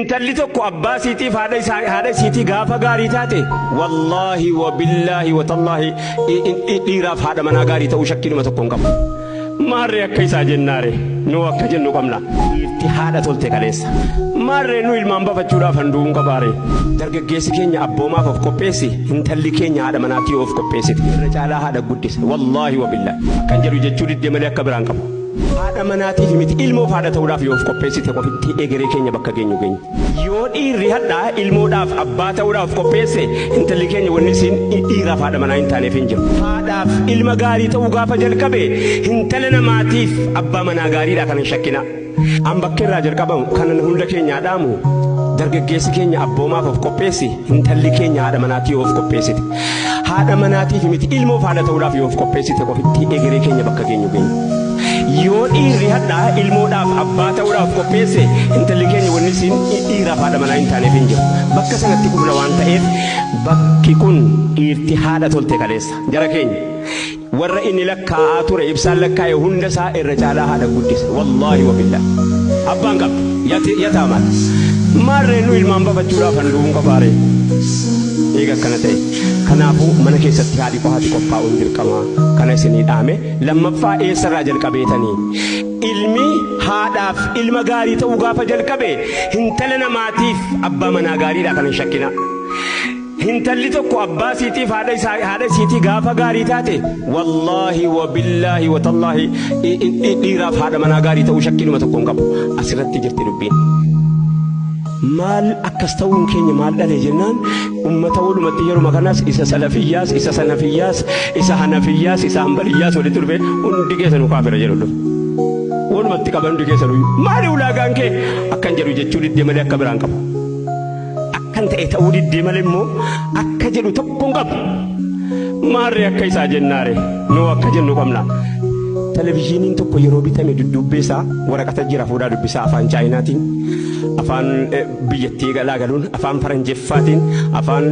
Intalli tokko abbaa isiitiif haadha isiitii gaafa gaarii taate wallaahi wabillaahi watallaahi dhiiraaf haadha manaa gaarii ta'uu shakkiinuma tokko hin qabu. Maarree akka isaa jennaare nuu akka jennu qabna. Dhiirti haadha tolte kaleessa. Maarree nu ilmaan bafachuudhaaf handuu hin qabaare. Dargaggeessi keenya abboomaaf of qopheessi intalli keenya haadha manaatii of qopheessiti. Irra caalaa haadha guddisa wallaahi wabillaahi. Kan jedhu jechuu diddee malee akka biraan qabu. Haadha manaatiif miti ilmoof haadha ta'uudhaaf yoo of qopheessite qofitti egeree keenya bakka geenyu geenya. Yoo dhiirri hadha ilmoodhaaf abbaa ta'uudhaaf of qopheesse intalli keenya wanni isiin dhiiraaf haadha manaa hin taaneef hin jiru. Haadhaaf ilma gaarii ta'uu gaafa jalqabe hintala namaatiif abbaa manaa gaariidha kana hin shakkina. An bakka irraa jalqabamu kanan hunda keenyaa dhaamu dargaggeessi keenya abboomaaf of qopheessi hintalli keenya haadha manaatii yoo of qopheessite. Haadha manaatiif miti ilmoof haadha ta'uudhaaf yoo of qopheessite qofitti egeree keenya bakka geenyu geenya. Yoo dhiirri hadhaa ilmoodhaaf abbaa ta'uudhaaf qopheesse intalli keenya wanni siin dhiiraaf haadha manaa hin taaneef hin jiru. Bakka sanatti kufna waan ta'eef bakki kun dhiirti haadha tolte kaleessa jara keenya. Warra inni lakkaa'aa ture ibsaan lakkaa'e hunda isaa irra caalaa haadha guddise. Wallaahi wabillaah. Abbaan qabdu. Yati- Yataamaan. Maarree nu ilmaan bafachuudhaaf handu'uun qofaaree. Eega akkana ta'e. Kanaafuu mana keessatti haadhi qofaatti qophaa'uun dirqamaa. Kana isinii dhaame. Lammaffaa eessarraa jalqabeetanii. Ilmi haadhaaf ilma gaarii ta'uu gaafa jalqabe hintala namaatiif abbaa manaa gaariidha kana hin shakkinaa. Hintalli tokko abbaa isiitiif haadha isaa haadha isiitii gaafa gaarii taate wallaahi wabillaahi watallaahi i- i- i- dhiiraaf haadha manaa gaarii ta'uu shakkiinuma tokko hin qabu asirratti jirti dubbiin. maal akkas ta'uun keenya maal dhale jennaan ummata walumatti yeruma kanas isa salafiyyaas isa sanafiyyaas isa hanafiyyaas isa hanbaliyyaas walitti dhufe hundi keessanu kaafira jedhu dhufe. Walumatti qaban hundi keessanu maali ulaagaan kee akkan jedhu jechuu diddee malee akka biraan qabu. Akkan ta'e ta'uu diddee malee immoo akka jedhu tokko hin qabu. Maarree akka isaa jennaare nuu akka jennu qabna. Televizyiiniin tokko yeroo bitame dudduubbee isaa waraqata jira fuudhaa dubbisaa afaan chaayinaatiin afaan eh, biyyattii galaa galuun afaan faranjeffaatiin afaan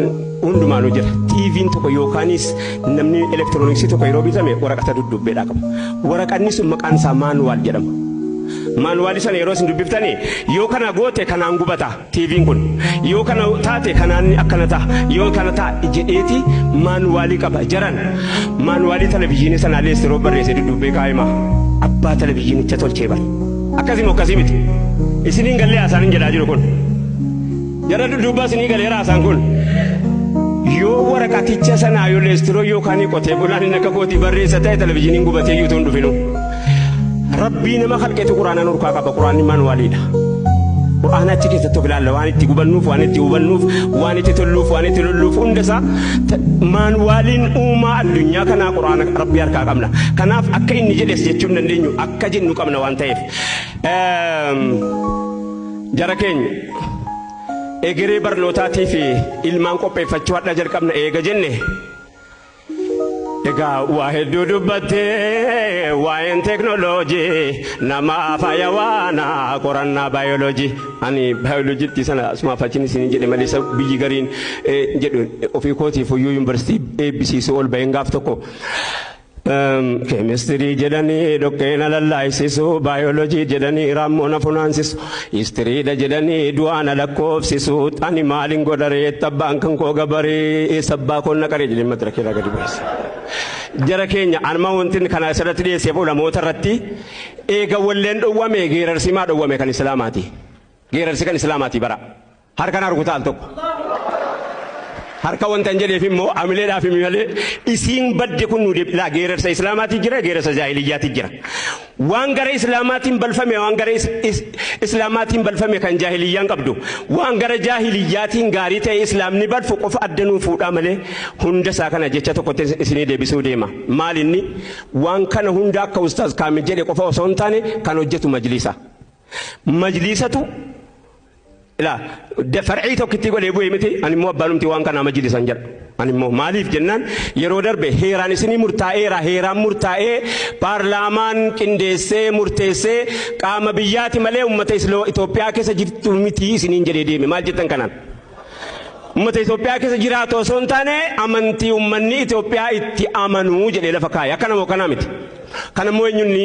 hundumaanuu jira. TV'n tokko yookaanis namni elektirooniksii tokko yeroo bitame waraqata dudduubbeedhaa qaba. Waraqanni sun maqaan isaa maanuwaal jedhama. Maanuwaali sana yeroo isin dubbiftanii yoo kana goote kanaan gubata. TVn kun yoo kana taate kanaanni akkana ta'a yoo kana ta'a jedheeti maanuwaalii qaba jaran maanuwaalii televizyiinii sanaallee yeroo barreesse dudduubbee kaa'ima abbaa televizyiinicha tolchee bari akkasii moo akkasii miti isiniin gallee haasaan jedhaa jiru kun jara dudduubbaa isinii galee haasaan kun yoo waraqaticha sanaa yoo leestiroo yookaan qotee bulaan inni akka kootii barreessa ta'e televizyiiniin gubatee yuutuun dhufinu. Rabbii nama kalqeetu quraana nurkaa qaba quraanni maanuwaaliidha. Quraana achi keessatti of ilaalla waan itti gubannuuf waan itti hubannuuf waan itti tolluuf waan itti lolluuf hundasaa maanuwaaliin uumaa addunyaa kanaa quraana rabbii harkaa qabna. Kanaaf akka inni jedhes jechuun dandeenyu akka jennu qabna waan ta'eef. Jara keenya egeree barnootaatii fi ilmaan qopheeffachuu hadhaa jalqabna eega jenne. Egaa waa hedduu dubbatte waa'een teeknooloojii namaa faaya waana qorannaa baayoloojii. Ani baayoloojiitti sana asumaaf achiin isin jedhe malee isa biyyi gariin jedhu ofii kootiif iyyuu yuunivarsiitii eebbisiisuu ol baheen gaaf tokko. Keemistirii jedhanii dhoqqee na lallaaisisu baayoloojii jedhanii raammoo na funaansisu. Istiriidha jedhanii du'aa na lakkoofsisu ani maalin godha reetta abbaan kan koo gabaree eessa abbaa koo na qaree jedhee madira keerraa gadi bu'eessa. Jara keenya anuma wanti kana asirratti dhiyeesseef ulamoota irratti eega walleen dhowwame geerarsi maa dhowwame kan islaamaati. Geerarsi kan islaamaati bara. Harka na rukuta al tokko. Harka wanta hin jedheef immoo amileedhaaf himi malee isiin badde kun nu deebi laa geerarsa islaamaatiin jira geerarsa jaahiliyyaatiin jira. Waan gara islaamaatiin balfame waan gara is- is- islaamaatiin balfame kan jaahiliyyaan qabdu waan gara jaahiliyyaatiin gaarii ta'e islaamni balfu qofa adda nuu fuudhaa malee hunda isaa kana jecha tokkotti is- isinii deebisuu deema. Maal inni waan kana hunda akka ustaaz kaamil jedhe qofa osoo hin taane kan hojjetu majliisa. Majliisatu Ilaa far'ii tokkittii godhee bu'ee miti ani immoo abbaanumti waan kanaa majlisan jedha. Ani immoo maaliif jennaan yeroo darbe heeraan isinii murtaa'eera heeraan murtaa'ee paarlaamaan qindeessee murteessee qaama biyyaati malee uummata Itoophiyaa keessa jirtu miti isiniin jedhee deeme maal jettan kanaan. Uummata Itoophiyaa keessa jiraatu osoo hin taane amantii uummanni Itoophiyaa itti amanuu jedhee lafa kaa'e akkana moo kanaa miti. Kanammoo eenyunni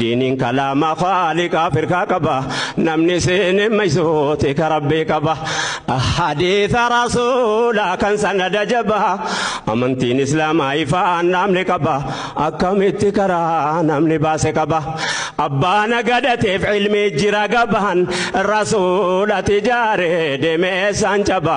Diiniin kalaama khaaliqaa firkaa qaba namni seene maysooti ka rabbii qaba hadiisa rasuula kan sanada jaba amantiin islaamaa ifaan dhaamni qaba akkamitti karaa namni baase qaba abbaan gadateef ilmii jira gabaan rasuulati jaare demeessaan caba